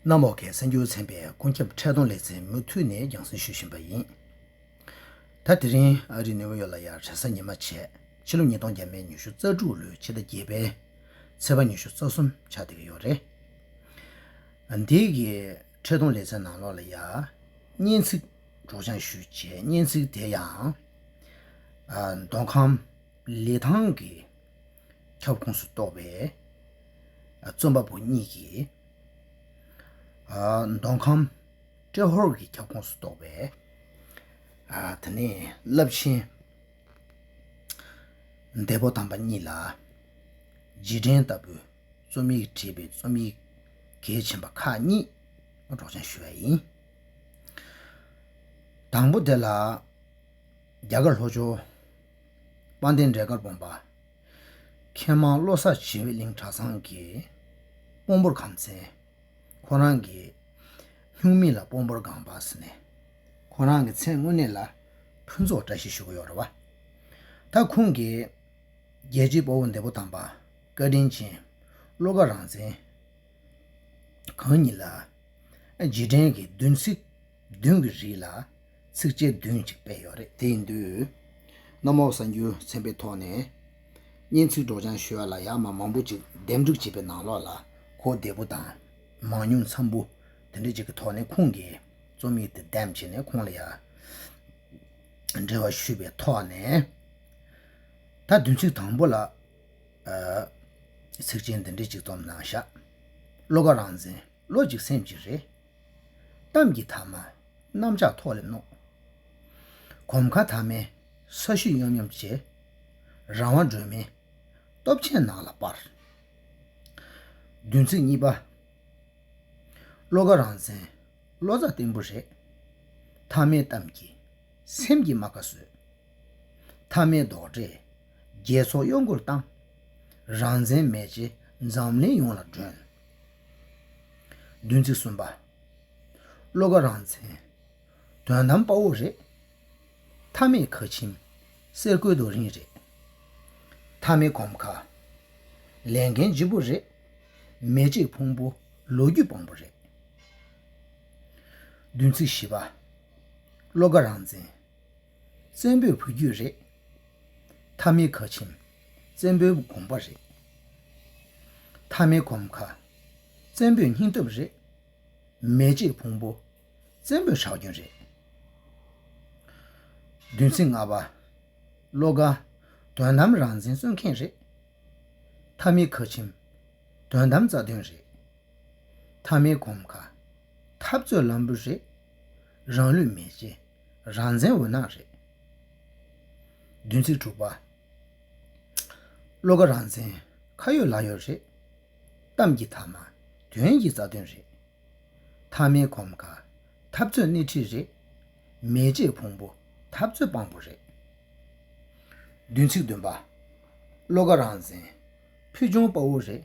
གནམ་འོག་གི་གསར་འགྱུར་ཚན་པའི་ཀུན་ཁྱབ་འཕྲལ་སྡོམ་ལེ་ཚན་མུ་མཐུད་ནས་རྒྱང་སྲིང་ཞུ་བཞིན་པ་ཡིན། ད་དེ་རིང་ཨ་རིའི་ནེའུ་ཡོག་ལ་ཡར་གྲལ་གསར་ཉི་མ་བྱས་ཕྱི་ལོ་ཉིས་སྟོང་བརྒྱད་མའི་ཉི་ཤུ་རྩ་དྲུག་ལོའི་ཕྱི་ཟླ་བརྒྱད་པའི་ཚེས་པ་ཉི་ཤུ་རྩ་གསུམ་ཆ་སྡེ་གི་ཡོག་རེད། འདི་གི་འཕྲལ་སྡོམ་ལེ་ཚན་ནང་ལོགས་ལ་ཡར་སྙན་ཚིག་སྒྲོག་སྦྱང་ཞུས་རྗེས་སྙན་ཚིག་དེ་ཡང་མདོ་ཁམས་ལི་ཐང་གི། ཁྱབ་ཁོངས་སུ་གཏོགས་པའི་རྩོམ་པ་པོ་གཉིས་ཀྱིས། མདོ་ཁམས་ཏྲེ་ཧོར་གྱི་ཁྱབ་ཁོངས་སུ་གཏོགས་པའི། ད་ནི་རླབས་ཆེན་འདས་པོ་དམ་པ་གཉིས་ལ་རྗེས་དྲན་ལྟ་བུའི་རྩོམ་ཡིག་བྲིས་པའི་རྩོམ་ཡིག་གལ་ཆེན་པ་ཁག་གཉིས་སྒྲོག་སྦྱང་ཞུས་པ་ཡིན། དང་པོ་དེ་ལ། རྒྱ་གར་ལྷོ་ཕྱོགས། སྤང་སྟེང་འབྲས་དཀར་བོང་བ། མཁས་མང་བློ་གསར་བྱེ་བའི་གླིང་གྲྭ་ཚང་གི། སྤོམ་པོར་ཁམས་ཚན། ཁོ་རང་གི། སྨྱུག་མིང་ལ་སྤོམ་པོར་སྒང་པ་ཟེར་ནས། ཁོ་རང་གི་མཚན་དངོས་གནས་ལ། ཕུན་ཚོགས་བཀྲ་ཤིས་ཞུ་གི་ཡོད་རེད་བ། ད་ཁོང་གིས། རྒྱལ་གཅེས་དཔའ་བོ་འདས་པོ་དམ་པ། བཀའ་དྲིན་ཅན། བློ་དགའ་རང་བཙན། གང་ཉིད་ལ། རྗེས་དྲན་གྱི་བདུན་ཚིགས། བདུན་གྱི་རིགས་ལ། ཚིགས་བཅད་བདུན་གཅིག་སྤེལ་ཡོད་རེད་དེ་ཡིན་དུས། གནམ་འོག་གསར་འགྱུར་ཚན་པའི་ཐོག་ནས། སྙན་ཚིག་སྒྲོག་སྦྱང་ཞོལ་ལ་ཡག་མ་མང་པོ་ཅིག་འདེམས་སྒྲུག་བྱས་པའི་ནང་ལོགས་ལ་གོ་བདེ་པོ་དང། མང་ཉུང་འཚམ་པོ་དེ་འདྲ་ཅིག་གི་ཐོག་ནས་ཁོང་གིས་རྩོམ་ཡིག་དེ་འདེམས་བྱས་ནས་ཁོང་ལ་ཡང་འབྲེལ་བ་ཞུས་པའི་ཐོག་ནས། ད་བདུན་ཚིགས་དང་པོ་ལ། ཚིགས་བཅད་འདི་འདྲ་ཅིག་རྩོམ་གནང་ཤག། བློ་ཁ་རང་འཛིན། བློ་གཅིག་སེམས་གཅིག་རེད། གཏམ་གྱི་དྭངས་མ་གནམ་ལྕགས་ཐོག་ལས་རྣོ། གོམ་ཁ་དྭངས་མའི་ས་གཞི་གཡོམ་གཡོམ་བྱས། རང་དབང་སྒྲོན་མེའི་སྟོབས་ཆེན་ནགས་ལ་སྤར། བདུན་ཚིགས་གཉིས་པ། བློ་ཁ་རང་བཙན་བློ་རྩ་བརྟན་པོ་རེད། མཐའ་མའི་གཏམ་གྱིས་སེམས་ཀྱི་རྨ་ཁ་བཟོས། མཐའ་མའི་རྡོག་སྒྲས་རྒྱལ་ཚོགས་གཡོ་འགུལ་བཏང། རང་བཙན་མེ་ལྕེ་འཛམ་གླིང་ཡོངས་ལ་སྒྲོན། བདུན་ཚིགས་གསུམ་པ། བློ་དགའ་རང་མཚན། དོན་དམ་དཔའ་བོ་རེད། མཐའ་མེད་ཁ་ཆེམས། གསེར་སྐུ་རྡོ་རིང་རེད། མཐའ་མེད་གོམ་ཁ། ལས་འགན་ལྗིད་པོ་རེད། མེ་ལྕེ་ཕུང་པོ་ལོ་རྒྱུས་དཔང་པོ་རེད། བདུན་ཚིགས་བཞི་པ། བློ་དགའ་རང་མཚན། བཙན་པོའི་བུ་རྒྱུད་རེད། མཐའ་མི་ཁ་ཆེམ། བཙན་པོའི་དགོངས་པ་རེད། མཐའ་མི་གོམ་ཁ། བཙན་པོའི་སྙིང་སྟོབས་རེད། མེ་ལྕེའི་ཕུང་པོ། བཙན་པོའི་ཁྲག་རྒྱུན་རེད། བདུན་ཚིགས་ལྔ་པ། བློ་དགའ། དོན་དམ་རང་བཙན་རྩོད་མཁན་རེད། མཐའ་མི་ཁ་ཆེམ། དོན་དམ་རྩ་དོན་རེད། མཐའ་མི་གོམ་ཁ། འཐབ་རྩོད་ལམ་བུ་རེད། རང་ལུས་མེ་ལྕེ། རང་བཙན་འོད་སྣང་རེད། བདུན་ཚིགས་དྲུག་པ། བློ་ཁ་རང་བཙན། ཁ་ཡོད་ལག་ཡོད་རེད། གཏམ་གྱི་དག་མ། དོན་གྱི་རྩ་དོན་རེད། མཐའ་མའི་གོམ་ཁ། འཐབ་རྩོད་སྣེ་ཁྲིད་རེད། མེ་ལྕེའི་ཕུང་པོ། འཐབ་རྩོད་དཔང་པོ་རེད། བདུན་ཚིགས་བདུན་པ། བློ་ཁ་རང་བཙན། ཕུལ་བྱུང་དཔའ་བོ་རེད།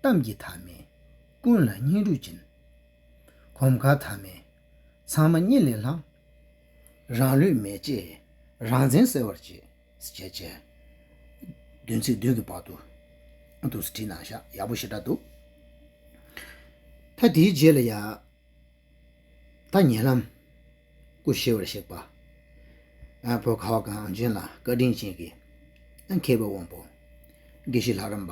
གཏམ་གྱི་དག་མས། ཀུན་ལ་བསྙེན་སྒྲུབ་སྦྱིན། གོམ་ཁ་དག་མས། ཚང་མ་གཉིད་ལས་ལངས། རང་ལུས་མེ་ལྕེས་རང་བཙན་གསལ་བར་བྱས། བྱས་བྱས། བདུན་ཚིག་བདུན་གྱི་བར་དུ། དུ་ཟེར་བྲིས་ན་ཤ་ཡག་པོ་ཞེ་དྲག་འདུག། ད་དེའི་རྗེས་ལ་ཡང། ད་ཉེ་ལམ། སྐུ་ཞེས་བར་གཤེགས་པ། བོད་ཁ་བ་གངས་ཅན་ལ་བཀའ་དྲིན་ཅན་གྱི། མཁས་པའི་དབང་པོ། དགེ་བཤེས་ལྷ་རམས་པ།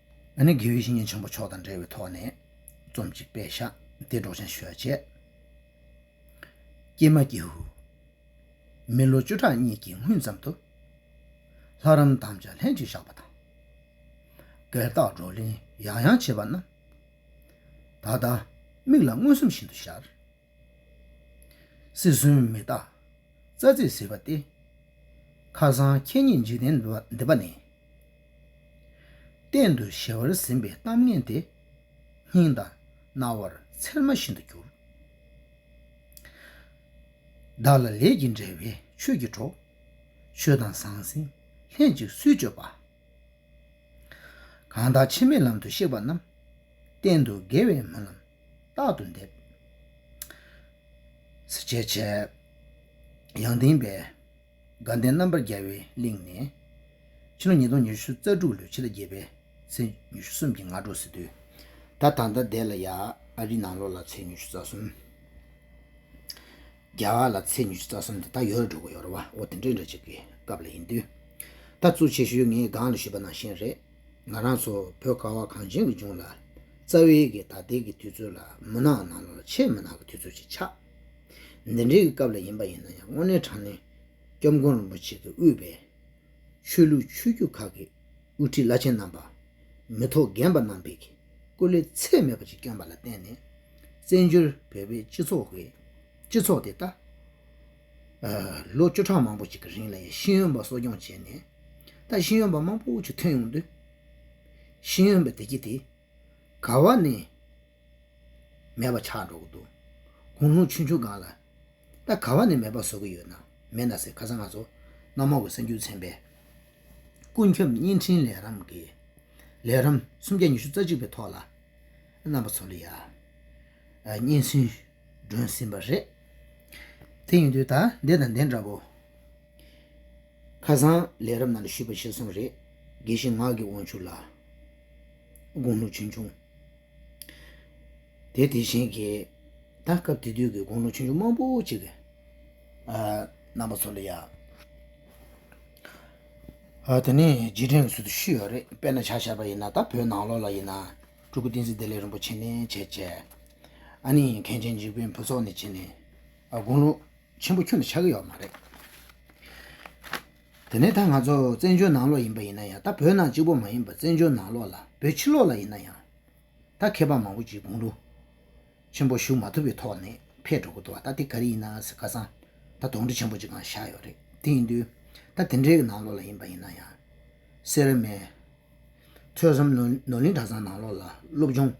ཨ་ནི་དགེ་བའི་བཤེས་གཉེན་ཆེན་པོ་མཆོག་དང་འབྲེལ་བའི་ཐོག་ནས་རྩོམ་གཅིག་དཔེ་བཞག་འདི་སྒྲོག་བྱང་ཞོལ་བཅས། ཀྱེ་མ་ཀྱེ་ཧུད། མི་ལོ་བཅུ་ཕྲག་གཉིས་ཀྱི་སྔུན་ཙམ་དུ། ལྷ་རམས་དམ་བཅའ་ལྷན་ཅིག་བཞག་པ་དང། བརྒལ་བརྟག་བགྲོ་གླེང་ཡང་ཡང་བྱས་པ་རྣམས། ད་ལྟ་མིག་ལ་མངོན་སུམ་བཞིན་དུ་ཤར། སྲིད་གསུམ་མི་རྟག་རྩ་ཚིག་ཟིལ་བ་སྟེ། མཁའ་གསང་ཁྱེད་ཉིད་འཇིག་རྟེན་འདི་པ་ནས། གཏན་དུ་གཞལ་བར་ཟིན་པའི་གཏམ་ངན་དེ། སྙིང་དང་རྣ་བར་ཚེར་མ་བཞིན་དུ་གྱུར། བདག་ལ་ལས་ཀྱིས་འབྲེལ་བའི་ཆོས་ཀྱི་གྲོགས། ཆོས་དང་ཟང་ཟིང་ལྷན་ཅིག་སུས་སྤྱོད་པ། གང་དག་འཆི་མེད་ལམ་དུ་གཤེགས་པ་རྣམས། གཏན་དུ་དགེ་བའི་སྨོན་ལམ། རྟག་ཏུ་འདེབས། གཟི་བྱས་བྱས། ཡང་ལྡན་པའི། དགའ་ལྡན་རྣམ་པར་རྒྱལ་བའི་གླིང་ནས། ཕྱི་ལོ་ཉིས་སྟོང་ཉི་ཤུ་རྩ་དྲུག་ལོའི་ཕྱི་ཟླ་བརྒྱད་པའི་ཚེས་ཉི་ཤུ་གསུམ་གྱི་ང་དྲོ་སི་ཏུའི་ད་ཐང་ཐ་དད་ལ་ཡ་ཨ་རི་ནང་ལོགས་ལ་ཚེས་ཉི་ཤུ་རྩ་གསུམ། རྒྱ་གར་ལ་ཚེས་ཉི་ཤུ་རྩ་གསུམ་དེ་དག་ཡོ་ར་འགྲོ་གི་ཡོ་ར་བ་ཨོ་དེ་འདྲའི་འདྲ་བྱེད་ཀྱི་སྐབས་ལ་ཡིན་དུས། ད་ཙུ་ཆེ་ཤོས་ངའི་སྒང་ལ་བཞུད་པ་ནང་བཞིན་རེད། ང་རང་ཚོ་བོད་ཁ་བ་གངས་ཅན་གྱི་ལྗོངས་ལ། རྩ་བའི་གི་ད་ལྟའི་གི་དུས་ཚོད་ལ་མུན་ནག་ནང་ལོགས་ལ་ཆེས་མུན་ནག་གི་དུས་ཚོད་ཅིག་ཆགས། འདི་འདྲའི་གི་སྐབས་ལ་ཡིན་པ་ཡིན་ན་ཡང་དངོས་གནས་དྲང་གནས། སྐྱབས་མགོན་རིན་པོ་ཆེ་གི་དབུས་པའི། ཆོས་ལུགས་ཆོས་བརྒྱུད་ཁག་གི་དབུ་ཁྲིད་བླ་ཆེན་རྣམ་པ། མི་ཐོག་རྒན་པ་རྣམ་པས་གི་སྐུ་ལས་ཚད་མེད་པ་ཅིག་བསྐྱོན་པ་ལ་བརྟེན་ནས། བཙན་བྱོལ་བོད་པའི་སྤྱི་ཚོགས་དེ་ད། ལོ་བཅུ་གྲངས་མང་པོ་ཞིག་གི་རིང་ལ་ཡང་ཤེས་ཡོན་པ་གསོ་སྐྱོང་བྱས་ནས་ད་ཤེས་ཡོན་པ་མང་པོ་ཞིག་ཐོན་ཡོང་དུས། ཤེས་ཡོན་པའི་བདེ་སྐྱིད་དེ་ག་བ་ནས་མེད་པ་ཆགས་འགྲོ་གི་འདུག་དགུང་ལོ་ཆུང་ཆུང་གང་ལ་ད་ག་བ་ནས་མེད་པ་བཟོ་གི་ཡོད་ན་མེད་ན་ཟེར་ག་ས་ང་ཚོ་གནམ་འོག་གི་གསར་འགྱུར་ཚན་པའི་ཀུན་ཁྱབ་བརྙན་འཕྲིན་ལས་རམ་གྱི་ལས་རམ་སུམ་བརྒྱ་ཉི་ཤུ་རྩ་གཅིག་པའི་ཐོག་ལ་རྣམ་པ་ཚོ་ལ་ཡང་སྙན་གསུངས། སྒྲོན་ཟིན་པ་རེད། དེ་ཡིན་དུས་ད་ལྟའི་དང་དེ་འདྲ་བོ། ཁ་སང་ལས་རབ་ན་ལ་ཞུས་པ་ཤེས་སོང་རེད། དགེ་བཤེས་ངག་གི་དབང་ཕྱུག་ལགས། དགུང་ལོ་ཆུང་ཆུང། དེ་དེ་བཞིན་གྱི། ད་སྐབས་དེ་དུས་ཀྱི་དགུང་ལོ་ཆུང་ཆུང་མང་པོ་ཅིག་གི། རྣམ་པ་ཚོ་ལ་ཡང། དེ་ནས་རྗེས་དྲན་གྱི་ཚུལ་དུ་ཞུས་ཡོད་རེད་དཔེར་ན་བྱ་བཞག་པ་ཡིན་ན་ད་བོད་ནང་ལོགས་ལ་ཡིན་ན། སྤྲུལ་སྐུ་བསྟན་འཛིན་བདེ་ལེགས་རིན་པོ་ཆེ་ནས་བྱས་བྱས། ཨ་ནི་མཁན་ཆེན་འཇིགས་དཔོན་ཕུན་ཚོགས་ནས་བྱས་ནས། དགུང་ལོ་ཆེན་པོ་ཁྱོན་དུ་ཆགས་ཀྱི་ཡོད་པ་མ་རེད། དེ་ནས་ད་ང་ཚོ་བཙན་བྱོལ་ནང་ལོགས་ཡིན་པ་ཡིན་ན་ཡང་ད་བོད་ནང་གཅིག་པོ་མ་ཡིན་པར་བཙན་བྱོལ་ནང་ལོགས་ལ་བོད་ཕྱི་ལོགས་ལ་ཡིན་ན་ཡང། ད་མཁས་པ་མང་པོ་ཅིག་དགུང་ལོ་ཆེན་པོ་བཞུགས་མ་ཐུབ་པའི་ཐོག་ནས་ཕེད་འགྲོ་གི་འདུག་ད་དེ་ག་རེ་ཡིན་ན་ཟེར་ཁ་སང་ད་དོགས་འདྲི་ཆེན་པོ་ཅིག་ཀྱང་བཞག་ཡོད་རེད་དེ་ཡིན་དུས་ད་དེ་འདྲའི་ནང་ལོགས་ལ་ཡིན་པ་ཡིན་ན་ཡང། སེར་སྨད། ཐོས་བསམ་ནོར་གླིང་གྲྭ་ཚང་ནང་ལོགས་ལ་སློབ་སྦྱོང་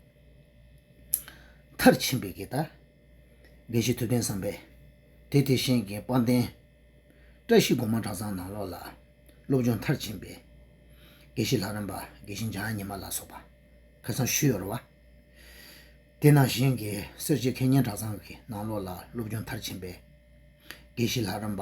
མཐར་ཕྱིན་པའི་དགེ་རྩ་འབའ་ཞིག་ཐུབ་བསྟན་བསམ་པའི་སྡེ་དེ་བཞེངས་མཁན་དཔལ་ལྡན་བཀྲ་ཤིས་གོང་མ་གྲྭ་ཚང་ནང་ལོགས་ལ་སློབ་སྦྱོང་མཐར་ཕྱིན་པའི་དགེ་བཤེས་ལྷ་རམས་པ་དགེ་བཤེས་འཇམ་ཉི་མ་ལ་སོགས་པ་ཁ་ཚང་བཞི་ཡོད་རེད་བ། དེ་ནང་བཞེངས་མཁན་གསེར་བྱེས་མཁས་སྙན་གྲྭ་ཚང་གི་ནང་ལོགས་ལ་སློབ་སྦྱོང་མཐར་ཕྱིན་པའི་དགེ་བཤེས་ལྷ་རམས་པ།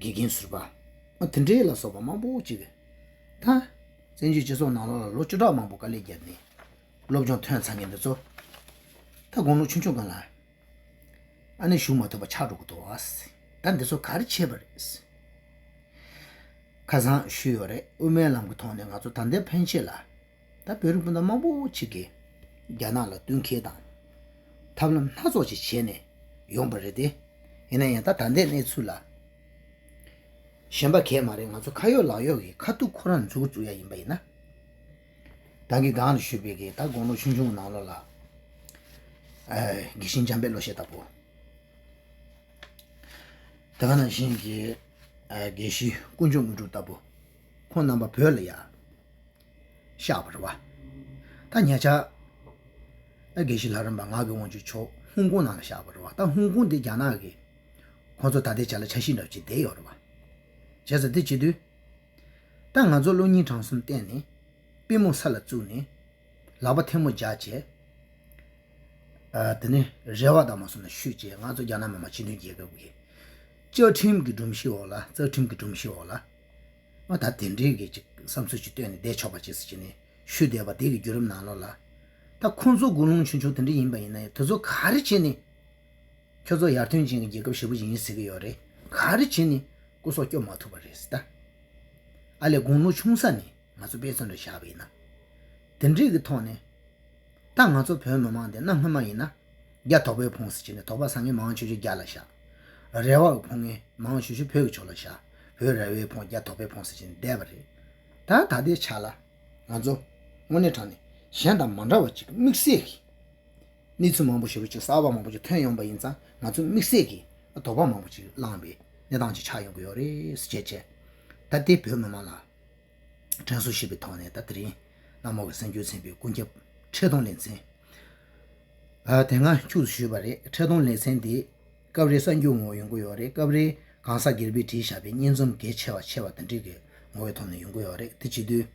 དགེ་རྒན་ཟུར་པ། དེ་འདྲའི་ལ་སོགས་པ་མང་པོ་བྱས་པའི་མཐར། བཙན་བྱོལ་སྤྱི་ཚོགས་ནང་ལོ་ལ་ལོ་བཅུ་ཕྲག་མང་པོ་དཀའ་ལས་བརྒྱབ་ནས་སློབ་སྦྱོང་ཐོན་ཚར་མཁན་དེ་ཚོ། ད་དགུང་ལོ་ཆུང་ཆུང་ག་ལ་ཨ་ནེ་ཞུགས་མ་ཐུབ་པ་ཆགས་འགྲོ་གི་འདུག་ད་འདི་ཚོ་ག་རེ་བྱས་པ་རེད། ཁ་སང་ཞུས་ཡོད་རེད་དབུ་མའི་ལམ་གྱི་ཐོག་ནས་ང་ཚོ་ད་ལྟའི་ཕན་ཆད་ལ། ད་བོད་རིགས་སྤུན་ཟླ་མང་པོ་ཞིག་གིས་རྒྱ་ནག་ལ་གཏུན་ཁེལ་དང། ཐབས་ལམ་སྣ་ཚོགས་ཅིག་བྱས་ནས་ཡོང་པ་རེད་དེ། ཡིན་ན་ཡང་ད་ད་ལྟའི་གནས་ཚུལ་ལ། ཞེན་པ་གས་མ་རེད་ང་ཚོ་ཁ་ཡོག་ལག་ཡོག་གིས་ཁ་ཐུག་ཁོ་རང་འཛུགས་འཛུགས་ཡ་ཡིན་པ་ཡིན་ན། ད་གི་གང་རེད་ཞུས་པས་གིས་ད་དགོང་ལོ་ཆུང་ཆུང་ནང་ལོ་ལ། དགེ་བཤེས་འཇམ་དཔལ་ལོ་ཤས་ལྟ་བུ། ད་ག་ནང་བཞིན་གྱི་དགེ་བཤེས་དཀོན་མཆོག་དངོས་གྲུབ་ལྟ་བུ། ཁོང་རྣམ་པ་བོད་ལ་ཡག། བཤགས་པར་བ། ཐ་མྱ་ཆ། དགེ་བཤེས་ལྷ་རམས་པ་ངག་གི་དབང་ཕྱུག་མཆོག་ཧོང་ཀོང་ནང་ལ་བཤགས་པར་བ། ད་ཧོང་ཀོང་འདི་རྒྱ་ནག་གི། ཁོ་ཚོ་ད་ལྟའི་ཆ་ལ་ཆ་ཤིས་འདྲ་བྱེད་བསྡད་ཡོད་རེད་བ། བྱས་ཟ་འདི་བྱེད་དུས། ད་ང་ཚོ་གློ་སྙིང་བྲང་གསུམ་བསྟན་ནས། པི་མོ་ས་ལ་བཙུགས་ནས། ལག་པ་ཐལ་མོ་རྒྱག་བྱས། དེ་ནས་རེ་བ་དང་མ་སོང་ན་བཤུས་བྱས་ང་ཚོ་རྒྱ་ནག་མི་དམངས་སྤྱི་མཐུན་རྒྱལ་ཁབ་ཀྱི། བཅའ་ཁྲིམས་ཀྱི་སྒྲོམ་གཞིའི་འོག་ལ་རྩ་ཁྲིམས་ཀྱི་སྒྲོམ་གཞིའི་འོག་ལ། པ་དང་དེ་འབྲེལ་གྱི་བསམ་ཚུལ་ཅིག་བཏོན་ནས་བསྡད་ཆོག་པ་བྱས་ཟེར་གྱི་ཞུས་བསྡད་པ་དེ་གི་བརྒྱུད་རིམ་ནང་ལོགས་ལ། ད་ཁོང་ཚོ་དགུང་ལོང་ཆུང་ཆུང་དེ་འདྲ་ཡིན་པ་ཡིན་ན་ཡང་དེ་ཚོ་ག་རེ་བྱས་ནས་ཁྱོད་ཚོ་ཡར་ཐོན་ཅན་གྱི་རྒྱལ་ཁབ་ཧྲིལ་པོ་ཞིག་ཡིན་ཟེར་གྱི་ཡོད་རེད་ག་རེ་བྱས་ནས་སྐུ་སྲོག་སྐྱོབ་མ་ཐུབ་པ་རེད་ཟེར་ད། ཨ་ལས་དགུང་ལོ་ཆུང་ས་ནས་ང་ཚོ་དཔེ་མཚོན་དུ་བཞག་པ་ཡིན་ན། དེ་འབྲེལ་གྱི་ཐོག་ནས། ད་ང་ཚོ་བོད་མི་མང་འདི་གནའ་སྔོན་མ་ཡིན་ན། བརྒྱ། དོག་པའི་ཕུང་སྲི་བྱས་ནས་དོག་པ་སངས་ངེ་མང་ཆོས་ཆོས་བརྒྱ་ལ་བཞག། རལ་བ་གི་ཕུང་ངེ་མང་ཆོས་ཆོས་བོད་ཀྱི་ཆོས་ལ་བཞག། བོད་རལ་བའི་ཕུང་བརྒྱ་དོག་པའི་ཕུང་སྲི་བྱས་ནས་བསྡད་པ་རེད། ད་ད་ལྟའི་ཆ་ལ། ང་ཚོ། དངོས་གནས་དྲང་ནས། གཞན་དང་མ་འདྲ་བ་ཅིག་དམིགས་བསལ་གྱིས། གནས་ཚུལ་མང་པོ་ཞིག་རོ་ཅིག་གསར་བ་མང་པོ་ཅིག་ཐོན་ཡོང་པ་ཡིན་ཙང་ང་ཚོས་དམིགས་བསལ་གྱིས་དོག་པ་མང་པོ་ཅིག་བསླངས་པའི་གནས་སྟངས་ཅིག་ཆགས་ཡོང་གི་ཡོད་རེད། བྱས་རྗེས། ད་ལྟའི་བོད་མི་མང་ལ། དྲན་གསོ་ཞེས་པའི་ཐོག་ནས་ད་ལྟ་རིང་ནག་མོ་བའི་གསང་རྒྱུད་ཚན་པའི་ཀུན་ཁྱབ་འཕྲལ་སྡོམ་ལེ་ཚན་དེ་སྔ་འཁྱུག་བཟོ་ཞུས་པ་རེད་འཕྲལ་སྡོམ་ལེ་ཚན་དེ་སྐབས་རེ་གསང་རྒྱུད་ངོ་བོ་ཡོང་གི་ཡོད་རེད་སྐབས་རེ་གང་ཟག་སྒེར་པས་བྲིས་བཞག་པའི་སྙན་རྩོམ་གལ་ཆེ་བ་ཆེ་བ་དང་འགྲིག་གི་ངོ་བོའི་ཐོག་ནས་ཡོང་གི་ཡོད་རེད་དེ་བྱེད་དུས།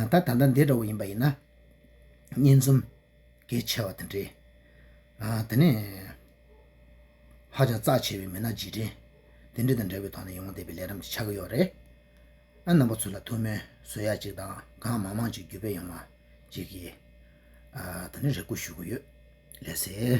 ད་ད་ལྟ་འདི་འདྲ་བོ་ཡིན་པ་ཡིན་ན། སྙན་རྩོམ་གལ་ཆེ་བ་དང་འབྲེལ་དེ་ནས། ཧ་ཅང་རྩ་ཆེ་བའི་མི་སྣ་རྗེས་དྲན། དེ་འབྲེལ་དང་འབྲེལ་བའི་ཐོག་ནས་ཡོང་བ་འདེབས་པའི་ལས་རིམ་གྱི་ཆ་ག་ཡོག་རེད། ཨ་རྣམ་པ་ཚོ་ལ་ཐུགས་སྨོན་བཟོད་ཡག་ཅིག་དང་གང་མང་མང་ཅིག་བརྒྱུད་སྤེལ་ཡོང་བ་ཅིག་གིས། ད་ནི་རེ་སྐུལ་ཞུ་གི་ཡོད། ལས་ཟེར།